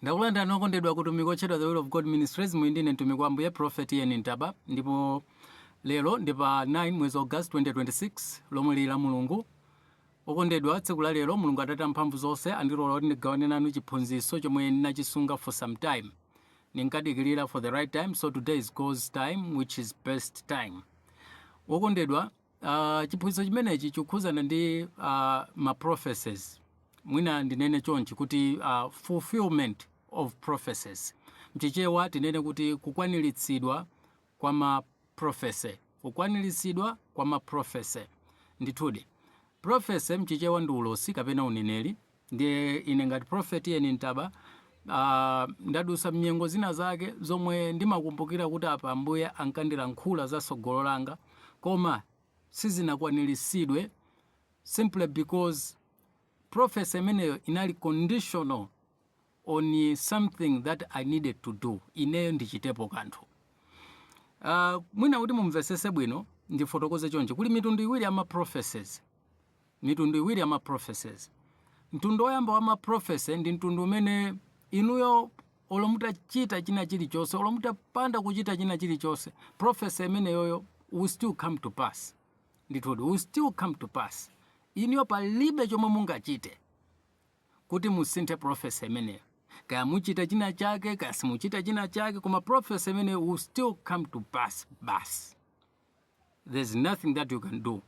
ndakulandani okondedwa kutumiki otchedwa the will of god ministries muli ndine mtumiki wa ambuye prophet ian ntaba ndipo lero ndi pa 9 mwezi wa august 2026 lomwe lili la mulungu okondedwa tsiku la lero mulungu atate amphamvu zonse andilola kuti ndigawane nanu chiphunzitso chomwe ndinachisunga for some time ndinkadikirira for the right time so today is god's time which is best time okondedwa Uh, chiphunzitso chimenechi chikukhuzana ndi uh, ma prophecies mwina ndinene chonchi kuti uh, fulfillment of prophecies mchichewa tinene kuti kukwaniritsidwa kwa ma prophecy kukwaniritsidwa kwa ma prophecy ndithudi prophecy mchichewa ndi ulosi kapena uneneri Ndiye ine ngati Prophet Ian Ntaba, ah, ndadusa m'nyengo zina zake zomwe ndimakumbukira kuti apa Ambuye ankandilankhula za tsogolo langa, koma sizinakwaniritsidwe simply because prophecy imeneyo inali conditional. on something that I needed to do, ineyo ndichitepo kanthu. Uh, mwina kuti mumvesese bwino ndifotokoze chonchi kuli mitundu iwiri ya ma prophecies mitundu iwiri ya ma prophecies mtundu woyamba wa ma prophecy ndi mtundu umene inuyo olo mutachita china chilichonse olo mutapanda kuchita china chilichonse prophecy imeneyoyo will still come to pass ndithudi will still come to pass inuyo palibe chomwe mungachite kuti musinthe prophecy imeneyo. Kaya muchita china chake, kaya simuchita china chake, koma prophecy imeneyo will still come to pass basi. There's nothing that you can do.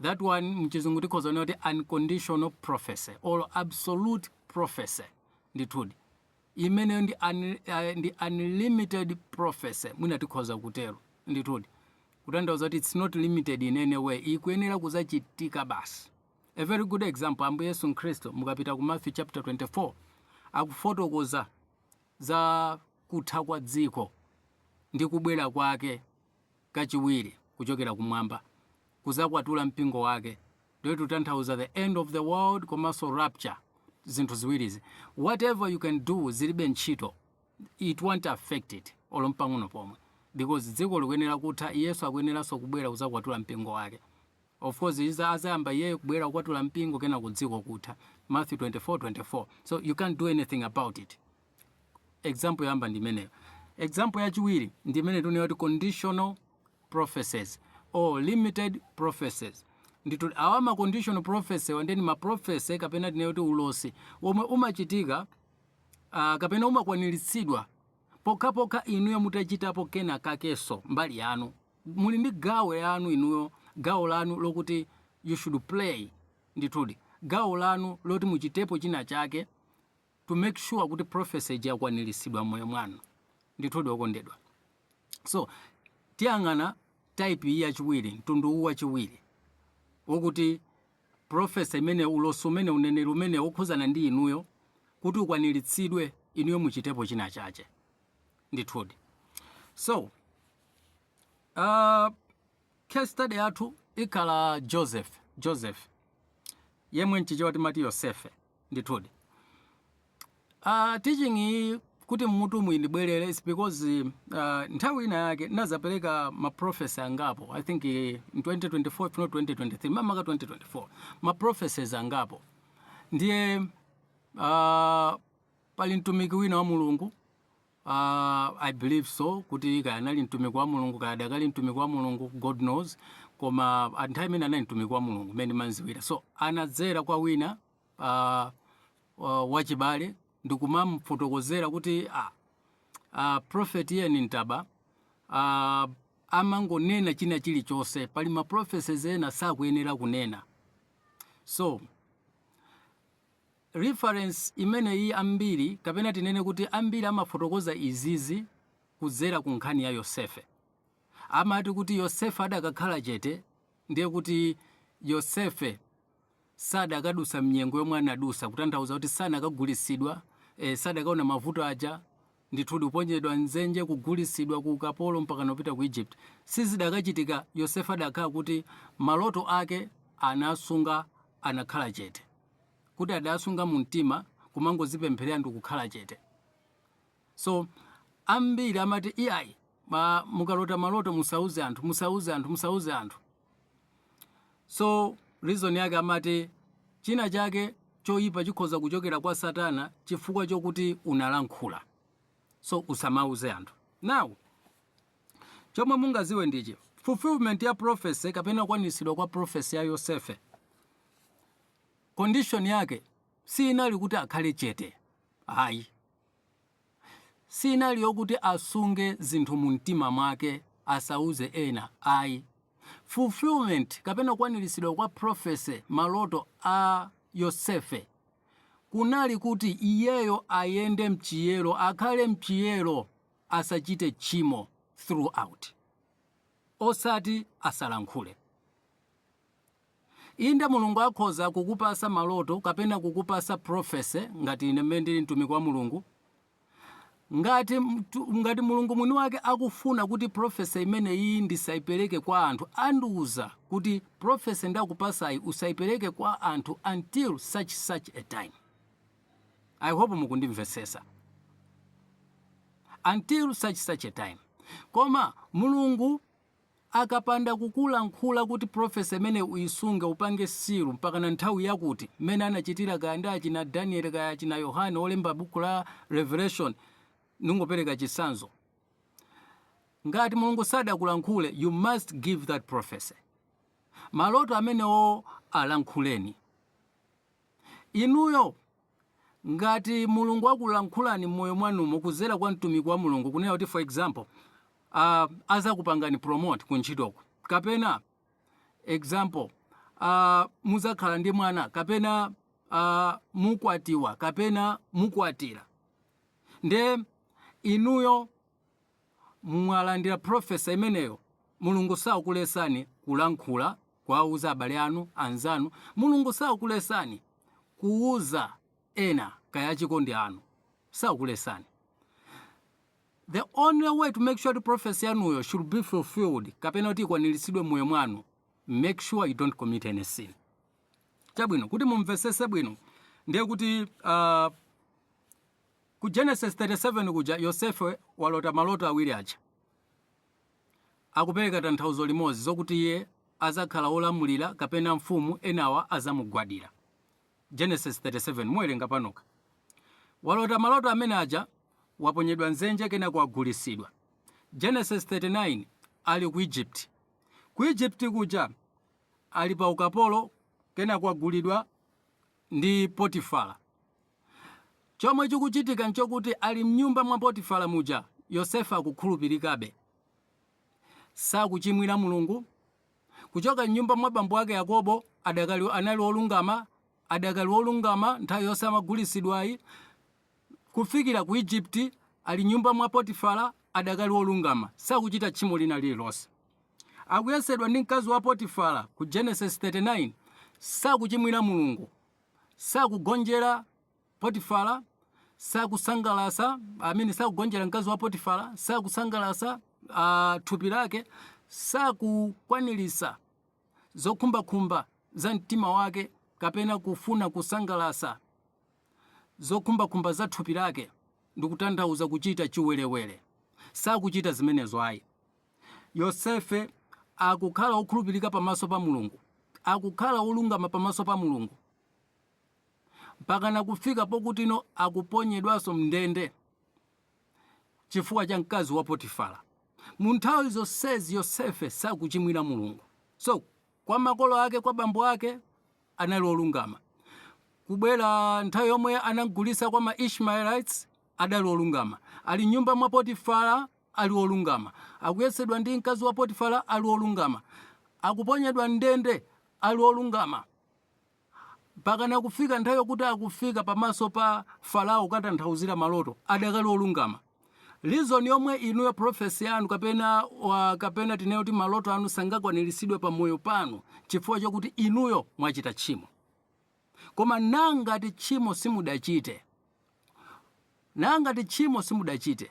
That one mchizungu tikhoza kunena kuti unconditional prophecy or absolute prophecy ndithudi imeneyo ndi, un, uh, ndi unlimited prophecy mwina tikhoza kutero ndithudi kutanthauza kuti it's not limited in any way ikuyenera kuzachitika basi A very good example Ambuye Yesu Mkhristu mukapita ku Matthew chapter 24 akufotokoza za kutha kwa dziko ndi kubwera kwake kachiwiri kuchokera kumwamba kuzakwatula mpingo wake ndiye tutanthauza the end of the world komanso rapture zinthu ziwirizi whatever you can do zilibe ntchito it won't affect it olo mpang'ono pomwe because dziko likuyenera kutha yesu akuyeneranso kubwera kuzakwatula mpingo wake Of course izi azayamba iyeyo kubwera kukwatula mpingo kenako dziko kutha Matthew 24:24 so you can't do anything about it. Example yoyamba ndi imeneyo. Example yachiwiri ndi imene tikunena kuti conditional prophecies or limited prophecies. Ndithu awa ma conditional prophecy wa ndiye ndi ma prophecy kapena tinene kuti ulosi womwe umachitika ah, kapena umakwaniritsidwa pokhapokha inuyo mutachitapo kena kakenso mbali yanu. muli ndi gawo yanu inuyo gawo lanu lokuti you should play ndithudi gawo lanu loti muchitepo china chake to make sure kuti prophecy ija yakwaniritsidwa moyo mwanu ndithudi okondedwa so tiyang'ana type iyi yachiwiri mtundu uwu wachiwiri wokuti prophecy imene ulosi umene uneneri umene wokhuzana ndi inuyo kuti ukwaniritsidwe inuyo muchitepo china chake ndithudi so Uh, case study yathu ikhala Joseph Joseph yemwe mchichewa timati Yosefe ndithudi uh, teaching iyi kuti mmutu mu indibwerere is because uh, nthawi ina yake ndinadzapereka ma prophecy angapo i think uh, in 2024 if not 2023 mamaka 2024 ma prophecies angapo ndiye uh, pali mtumiki wina wa mulungu Uh, I believe so kuti kaya anali mtumiki wa Mulungu kaya adakali mtumiki wa Mulungu God knows koma nthawi imene anali mtumiki wa Mulungu mmene ndimamdziwira so anadzera kwa wina uh, uh, wachibale ndikumamfotokozera kuti ah, uh, prophet Ian Ntaba uh, amangonena china chilichonse pali ma prophecies ena sakuyenera kunena so Reference imene iyi ambiri kapena tinene kuti ambiri amafotokoza izizi kudzera ku nkhani ya Yosefe. Amati kuti Yosefe adakakhala chete ndiye kuti Yosefe sadakadutsa mnyengo yomwe anadutsa kutanthauza kuti sanakagulitsidwa, eh, sadakaona mavuto aja Ndithudi, kuponyedwa m'dzenje, kugulitsidwa ku ukapolo, mpakana kupita ku Egypt, sizidakachitika Yosefe adakhala kuti maloto ake anasunga anakhala chete, kuti adasunga mu mtima kumangozipempherera ndikukhala chete. So, ambiri amati, Iyayi, ma, mukalota maloto musauze anthu, musauze anthu, musauze anthu. So reason yake amati china chake choyipa chikhoza kuchokera kwa Satana chifukwa chokuti unalankhula. So usamauze anthu. Now chomwe mungadziwe ndichi fulfillment ya prophecy kapena kukwanitsidwa kwa prophecy ya Yosefe condition yake si inali kuti akhale chete ayi si inali yokuti asunge zinthu mu mtima mwake asauze ena ayi. Fulfillment kapena kukwaniritsidwa kwa prophecy, maloto a Yosefe, kunali kuti iyeyo ayende mchiyero, akhale mchiyero, asachite tchimo throughout. Osati asalankhule. Inde Mulungu akhoza kukupasa maloto kapena kukupasa prophecy ngati ine mmene ndili mtumiki wa Mulungu. Ngati, ngati Mulungu mwini wake akufuna kuti prophecy imene iyi ndisaipereke kwa anthu, andiuza kuti prophecy ndakupasayi usaipereke kwa anthu until such such a time. I hope mukundimvetsesa. Until such such a time. Koma Mulungu Akapanda kukulankhula kuti prophecy imeneyi uyisunge upange seal mpakana nthawi yakuti, mmene anachitira kaya ndi achina Daniel kaya achina Yohane olemba buku la Revelation, ndingopereka chitsanzo. Ngati Mulungu sadakulankhule you must give that prophecy. Maloto amenewo alankhuleni. Inuyo ngati Mulungu akulankhulani mmoyo mwanumo kuzera kwa mtumiki wa Mulungu kunena kuti for example uh, azakupangani promote ku ntchitoko kapena example uh, muzakhala ndi mwana kapena uh, mukwatiwa kapena mukwatira nde inuyo mwalandira prophecy imeneyo mulungu sakulesani kulankhula kuwauza abale anu anzanu mulungu sakulesani kuuza ena kaya achikondi anu sakulesani the only way to make sure kuti prophecy yanuyo should be fulfilled kapena kuti ikwaniritsidwe mmoyo mwanu make sure you don't commit any sin chabwino kuti mumvesese bwino ndiye kuti uh, Ku Genesis 37 kuja Yosefe walota maloto awiri aja. Akupereka tanthauzo limodzi zokuti iye azakhala wolamulira kapena mfumu enawa azamugwadira. Genesis 37 muwerenga panokha. Walota maloto amene aja waponyedwa mdzenje kenako wagulisidwa. Genesis 39 ali ku Egypt. Ku Egypt kuja ali pa ukapolo kenako wagulidwa ndi Potifala. Chomwe chikuchitika nchokuti ali mnyumba mwa Potifala muja, Yosefe akukhulupirikabe. Sakuchimwira Mulungu. Kuchoka mnyumba mwa bambo ake Yakobo, adakali, anali olungama, adakali wolungama nthawi yonse amagulitsidwayi, kufikira ku Egypt, ali mnyumba mwa Potifala, adakali wolungama. Sakuchita tchimo lina lililonse. Akuyesedwa ndi mkazi wa Potifala ku Genesis 39, sakuchimwira Mulungu. sakugonjera Potifara, sakusangalasa, I mean sakugonjera mkazi wa Potifara, sakusangalasa uh, thupi lake, sakukwanirisa zokhumbakhumba za mtima wake kapena kufuna kusangalasa zokhumbakhumba za thupi lake ndikutanthauza kuchita chiwerewere sakuchita zimenezo ayi Yosefe akukhala wokhulupirika pamaso pa Mulungu, akukhala wolungama pamaso pa Mulungu, mpakana kufika pokutino akuponyedwanso m'ndende chifukwa cha mkazi wa Potifara. Mu nthawi zonsezi Yosefe sakuchimwira Mulungu. So, kwa makolo ake, kwa bambo ake, anali wolungama. Kubwera nthawi yomwe anamgulitsa kwa ma Ishmaelites, adali wolungama. Ali m'nyumba mwa Potifara, ali olungama, akuyesedwa ndi mkazi wa Potifara ali olungama, akuponyedwa m'ndende ali olungama, mpakana kufika nthawi yokuti akufika pamaso pa Farao kukatanthauzira maloto, adakali olungama. Reason yomwe inuyo prophecy yanu kapena wa, kapena tinene kuti maloto anu sangakwaniritsidwe pa moyo panu chifukwa chokuti inuyo mwachita tchimo. Koma nangati tchimo simudachite, nangati tchimo simudachite,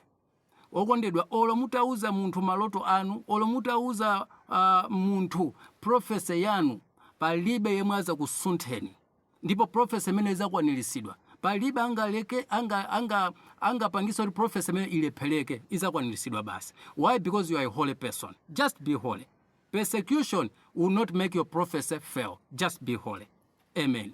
Okondedwa olo mutauza munthu maloto anu olo mutauza uh, munthu prophecy yanu palibe yemwe azakusuntheni ndipo prophecy imene izakwanilisidwa palibe angaleke anga anga angapangisa kuti prophecy imene ilepheleke izakwanilisidwa basi why because you are a holy person just be holy persecution will not make your prophecy fail just be holy amen